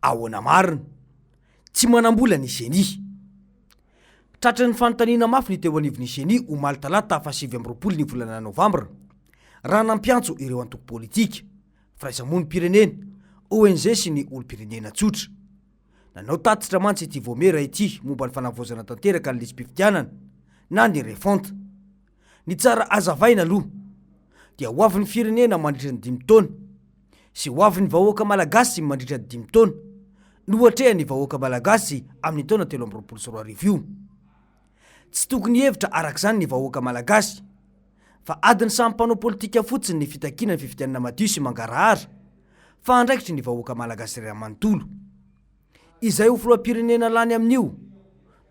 Ahoana marina? Tsy manam-bola ny ceni. Tratry ny fanontaniana mafy ny teo anivon'ny ceni omaly talata fahasivy amby roapolo ny volana novambra, raha nampiantso ireo antoko politika, firaisamonim-pirenena, ONG sy ny olom-pirenena tsotra. Nanao tatitra mantsy ity Vaomiera ity momba ny fanavaozana tanteraka ny lisi-pifidianana na ny refonte. Ny tsara hazavaina aloha dia ho avin'ny firenena mandritra ny dimy taona sy ho avin'ny vahoaka malagasy mandritra ny dimy taona no hatrehan'ny vahoaka malagasy amin'ny taona telo amby roapolo sy roa arivo io. Tsy tokony hihevitra arak'izany ny vahoaka Malagasy fa adin'ny samy mpanao politika fotsiny ny fitakiana ny fifidianana madio sy mangarahara fa andraikitry ny vahoaka Malagasy iray manontolo. Izay ho filoham-pirenena lany amin'io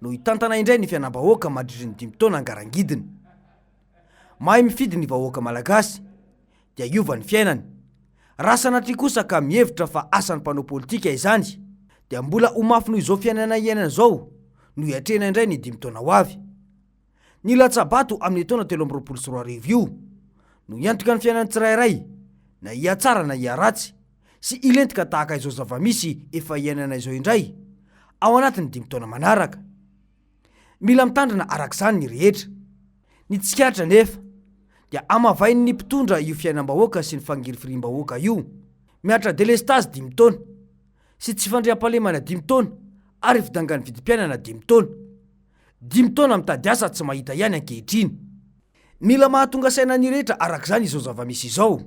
no hitantana indray ny fianam-bahoaka mandritry ny dimy taona angarangidiny. Mahay mifidy ny vahoaka Malagasy. dia hiova ny fiainany. Raha sanatria kosa ka mihevitra fa asan'ny mpanao politika izany, dia mbola ho mafy noho izao fiainana iainana izao no hiatrehina indray ny dimy taona ho avy. Ny latsa-bato amin'io taona telo amby roapolo sy roa arivo io no hiantoka ny fiainan'ny tsirairay, na hihatsara na hiharatsy, sy hilentika tahaka izao zava-misy efa iainana izao indray, ao anatin'ny dimy taona manaraka. Mila mitandrina araka izany ny rehetra. Ny tsikaritra anefa dia amavain'ny mpitondra io fiainam-bahoaka sy ny fangirifiriam-bahoaka io. Mihatra delestazy dimy taona, sy tsy fandriampahalemana dimy taona ary fidangan'ny vidim-piainana dimy taona. Dimy taona mitady asa tsy mahita ihany ankehitriny. Mila mahatonga saina ny rehetra araka izany izao zava-misy izao.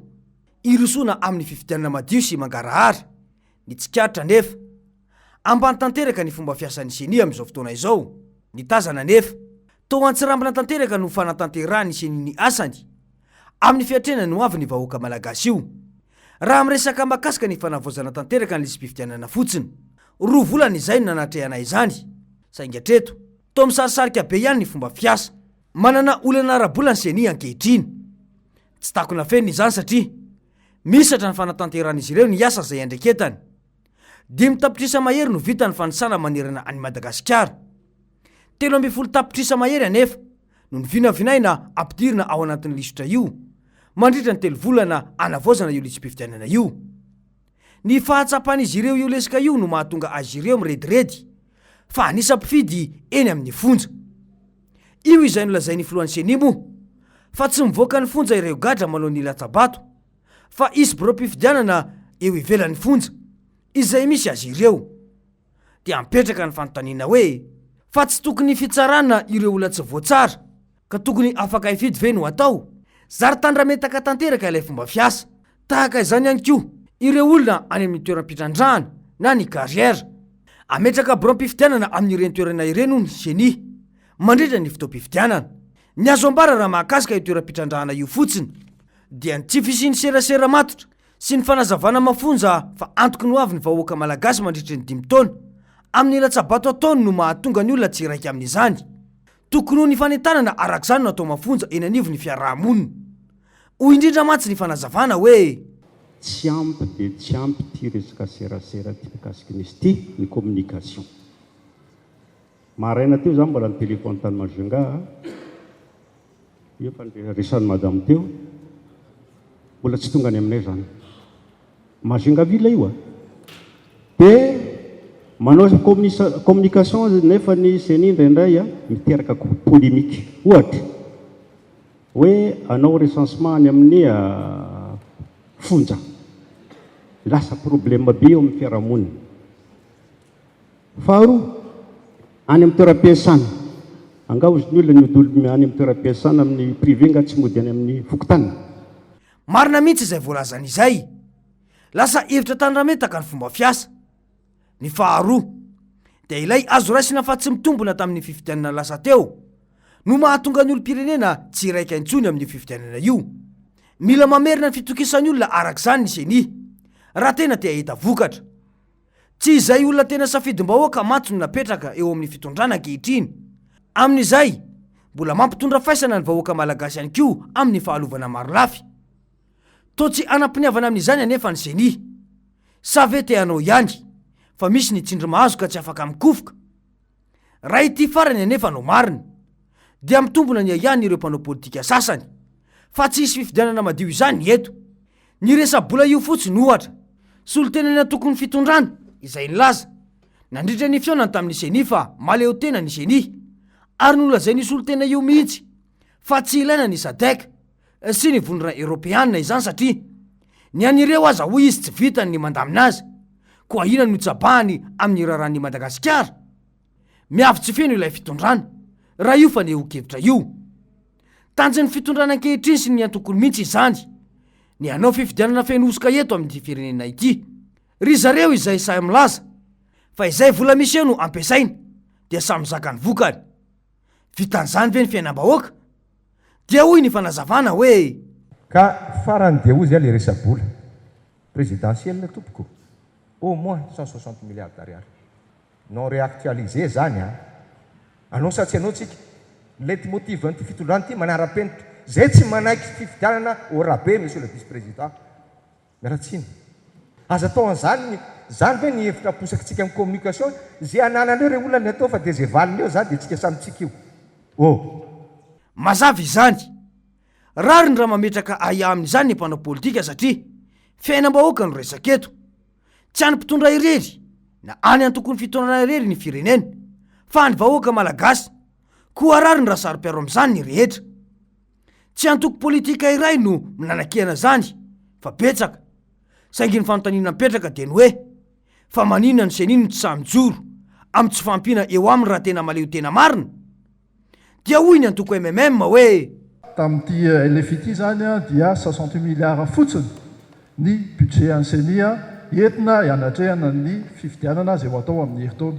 Hirosoana amin'ny fifidianana madio sy mangarahara. Ny tsikaritra anefa, ambany tanteraka ny fomba fiasan'ny ceni amin'izao fotoana izao. Ny tazana anefa, toa antsirambina tanteraka no fanatanterahan'ny ceni ny asany amin'ny fiatrehana ny ho avin'ny vahoaka malagasy io. Raha miresaka mahakasika ny fanavaozana tanteraka ny lisi-pifidianana fotsiny, roa volana izay no nanatrehana izany, saingy hatreto, toa misarisarika be ihany ny fomba fiasa. Manana olana ara-bola ny ceni ankehitriny. Tsy takona fenina izany satria, Mihisatra ny fanatanteran'izy ireo ny asa izay iandreketany. Dimy tapitrisa mahery no vitan'ny fanisana manerana an'i Madagasikara. Telo ambin'ny folo tapitrisa mahery anefa no novinavinaina hampidirina ao anatin'ny lisitra io mandritra ny telo volana anavaozana io lisi-pifidianana io. Ny fahatsapan'izy ireo io leska io no mahatonga azy ireo mirediredy. fa anisa mpifidy eny amin'ny fonja. Io izay nolazain'ny filohan'ny ceni moa fa tsy mivoaka ny fonja ireo gadra manao ny latsa-bato fa hisy biraom-pifidianana eo ivelan'ny fonja izay misy azy ireo. Dia mipetraka ny fanontaniana hoe fa tsy tokony fitsarana ireo olona tsy voatsara Ka tokony afaka hifidy ve no atao? Zary tandrametaka tanteraka ilay fomba fiasa. Tahaka izany ihany koa ireo olona any amin'ny toeram-pitrandrahana na ny carrière. Ametraka biraom-pifidianana amin'ireny toerana ireny hono ny ceni, mandritra ny fotoam-pifidianana. Ny azo ambara raha mahakasika io toeram-pitrandrahana io fotsiny, dia ny tsy fisian'ny serasera matotra sy ny fanazavana mafonja fa antoky ny ho avin'ny vahoaka malagasy mandritry ny dimy taona amin'ny latsa-bato ataony no mahatonga ny olona tsy iraika amin'izany. Tokony ho ny fanentanana araka izany no atao mafonja eny anivon'ny fiaraha-monina. Hoy indrindra mantsy ny fanazavana hoe. Tsy ampy dia tsy ampy ity resaka serasera ity mikasika ny sti, ny communication. Maraina teo izaho mbola nitelefony tany Majunga a, io efa resan'i madame teo, mbola tsy tonga any aminay izany. Majungavilla io a! Be manao communication aza nefa ny ceni indraindray a miteraka polemique. Ohatra, hoe hanao recensement any amin'ny fonja. Lasa problème be eo amin'ny fiarahamonina. Faharoa, any amin'ny toeram-piasana. Angaha ozy ny olona ny hodolom any amin'ny toeram-piasana amin'ny privé angaha tsy mody any amin'ny fokontany? Marina mihitsy izay voalazany izay. Lasa hevitra tandrametaka ny fomba fiasa. Ny faharoa, dia ilay azo raisina fa tsy mitombina tamin'ny fifidianana lasa teo, no mahatonga ny olom-pirenena tsy hiraika intsony amin'io fifidianana io. Mila mamerina ny fitokisan'ny olona araka izany ny ceni, raha tena te hahita vokatra. Tsy izay olona tena safidim-bahoaka mantsy no napetraka eo amin'ny fitondrana ankehitriny. Amin'izay, mbola mampitondra faisana ny vahoaka malagasy ihany koa amin'ny fahalovana marolafy. Toa tsy hanam-piniavana amin'izany anefa ny Ceni. Sa ve te hanao ihany, fa misy ny tsindry mahazo ka tsy afaka mikofoka? Raha ity farany anefa no marina, dia mitombina ny ahiahin' ireo mpanao politika sasany, fa tsy hisy fifidianana madio izany eto. Ny resa-bola io fotsiny, ohatra, solontenan'ny antokon'ny fitondrana, izay nilaza, nandritra ny fihaonany tamin'ny Ceni fa mahaleotena ny Ceni, ary nolazain'io solontena io mihitsy fa tsy ilaina ny Sadec. sy ny vondrona eropeana izany satria ny an'ireo aza hoy izy tsy vitany ny mandamina azy, koa inona no tsabahany amin'ny raharahan'i Madagasikara? Miavy tsy feno ilay fitondrana, raha io fanehoan-kevitra io. Tanjon'ny fitondrana ankehitriny sy ny antokony mihitsy izany ny hanao fifidianana feno hosoka eto amin'ity firenena ity. Ry zareo izay sahy milaza fa izay vola miseho no ampiasaina dia samy zaka ny vokany. Vitan'izany ve ny fiainam-bahoaka? Dia hoy ny fanazavana hoe. Ka farany dia hozy ilay resa-bola presidentielle tompoko, au moins cent soixante milliards d'ariary non reactualiser zany an! Anao sa tsy anao tsika? Ny leitmotiv-n'ity fitondrana ity manara-penitra, zay tsy manaiky fifidianana au rabais monsieur le vice-président. Ratsina. Aza atao an'izany ny, izany ve ny hevitra aposakintsika amin'ny communication? Ze ananan'reo re olona ny atao fa dia ze valiny eo za dia tsika samy tsika io. Oh. Mazava izany. Rariny raha mametraka ahiahy amin'izany ny mpanao politika satria fiainam-bahoaka no resaka eto. Tsy an'ny mpitondra irery na any antokon'ny fitondrana irery ny firenena fa an'ny vahoaka malagasy. Koa rariny raha saro-piaro amin'izany ny rehetra. Tsy antoko politika iray no mnanakihana zany fa betsaka, saingy ny fanontaniana mipetraka dia ny hoe, fa maninona ny ceni no tsy sahy mijoro amin'ny tsy fahampiana eo aminy raha tena maleo tena marina? Dia hoy ny antoko MMM hoe. Tamin'ity LFI ity izany dia soixante huit milliards fotsiny ny budget an'ny ceni entina hanatrehana ny fifidianana izay ho atao amin'ny herintaona.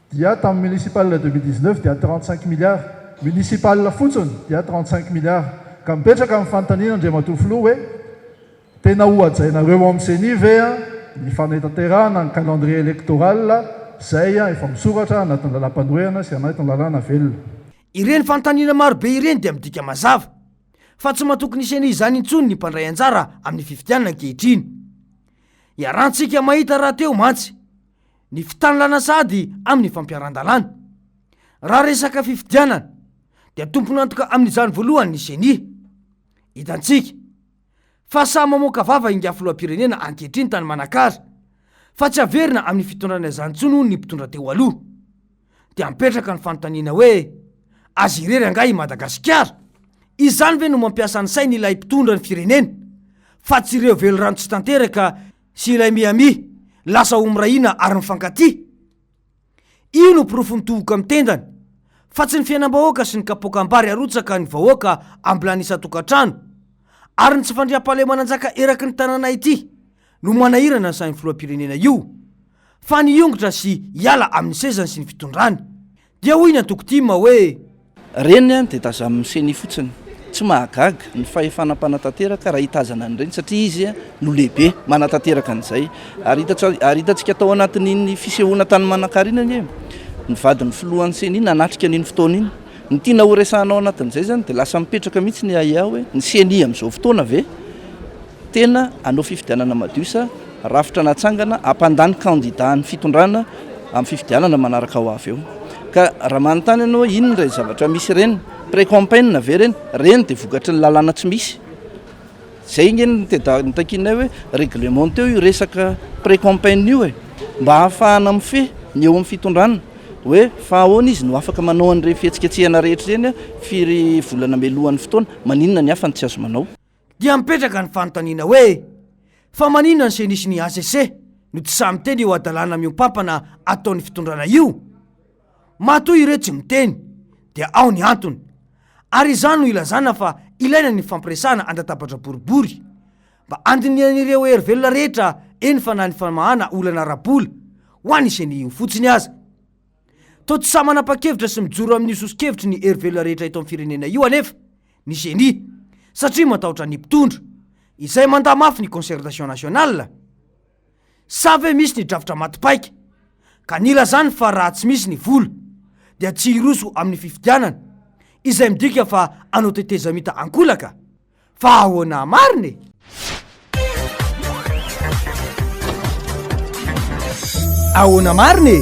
dia tamin'ny municipal deux mille dix neuf dia trente cinq milliards municipal fotsiny dia trente cinq milliards ka mipetraka ny fanontaniana Andriamatoa Filoha hoe tena hohajainareo ao amin'ny ceni ve ny fanetaterahana ny calendrier electoral izay efa misoratra anatin'ny lalam-panoherana sy anatin'ny lalàna velona. Ireny fanontaniana maro be ireny dia midika mazava fa tsy matoky ny ceni izany intsony ny mpandray anjara amin'ny fifidianana ankehitriny. Iarahantsika mahita rahateo mantsy ny fitanilana sahady amin'ny fampiaran-dalàna. Raha resaka fifidianana dia tompon'antoka amin'izany voalohany ny ceni. Hitantsika fa sahy mamoaka vava ingahy filoham-pirenena ankehitriny tany Manakara fa tsy haverina amin'ny fitondrana izany intsony hono ny mpitondra teo aloha. Dia mipetraka ny fanontaniana hoe azy irery angaha i Madagasikara? Izany ve no mampiasa ny sainy ilay mpitondra ny firenena fa tsy ireo velirano tsy tanteraka sy ilay mihamia lasa ho mirahina ary mifankatia? Io no porofon'ny tohoka amin'ny tendany, fa tsy ny fiainam-bahoaka sy ny kapokam-bary arotsaka ny vahoaka ambilany isan-tokantrano, ary ny tsy fandriampahalemana anjaka eraky ny tanàna ity no manahirana ny sahin'ny filoham-pirenena io, fa ny hiongotra sy hiala amin'ny sezany sy ny fitondrany. Dia hoy ny antoko tim hoe. Reny dia tazamin'ny ceni fotsiny. Tsy mahagaga ny fahefana mpanatanteraka raha hitazana an'ireny satria izy no lehibe manatanteraka an'izay. Ary ary hitantsika tao anatin'iny fisehoana tany Manakara iny anie ny vadin'ny filohan'ny ceni nanatrika an'iny fotoana iny. Ny tiana horesahana ao anatin'izay izany dia lasa mipetraka mihitsy ny ahiahy hoe ny ceni amin'izao fotoana ve Tena hanao fifidianana madio sa rafitra natsangana hampandany kandida ny fitondrana amin'ny fifidianana manaraka ho avy eo? Ka raha manontany ianao hoe inona ireny zavatra misy ireny, pre-campaign ve ireny? Ireny dia vokatry ny lalàna tsy misy. Izay ange no nitakianay hoe reglementeo io resaka pre-campaign io e! Mba hahafahana mifehy ny eo amin'ny fitondrana hoe fa ahoana izy no afaka manao an'ireny fihetsiketsehana rehetra ireny firy volana mialohan'ny fotoana? Maninona ny hafa no tsy azo manao? Dia mipetraka ny fanontaniana hoe, fa maninona ny ceni sy ny hcc no tsy sahy miteny eo hadalana miompampana ataon'ny fitondrana io? Matoa ireo tsy miteny dia ao ny antony. Ary izany no ilazana fa ilaina ny fifampiresahana andatabatra boribory. Mba andinihan'ireo hery velona rehetra eny fa na ny famahana olana ara-bola ho an'ny ceni io fotsiny aza. Toa tsy sahy manapa-kevitra sy mijoro amin'io soso-kevitry ny hery velona rehetra eto amin'ny firenena io anefa. ny ceni satria matahotra ny mpitondra izay mandà mafy ny concertation nationale sa ve misy ny drafitra maty paika ka nilazany fa raha tsy misy ny vola dia tsy hiroso amin'ny fifidianana izay midika fa anao tetezamita ankolaka fa ahoana marina e? Ahoana marina e?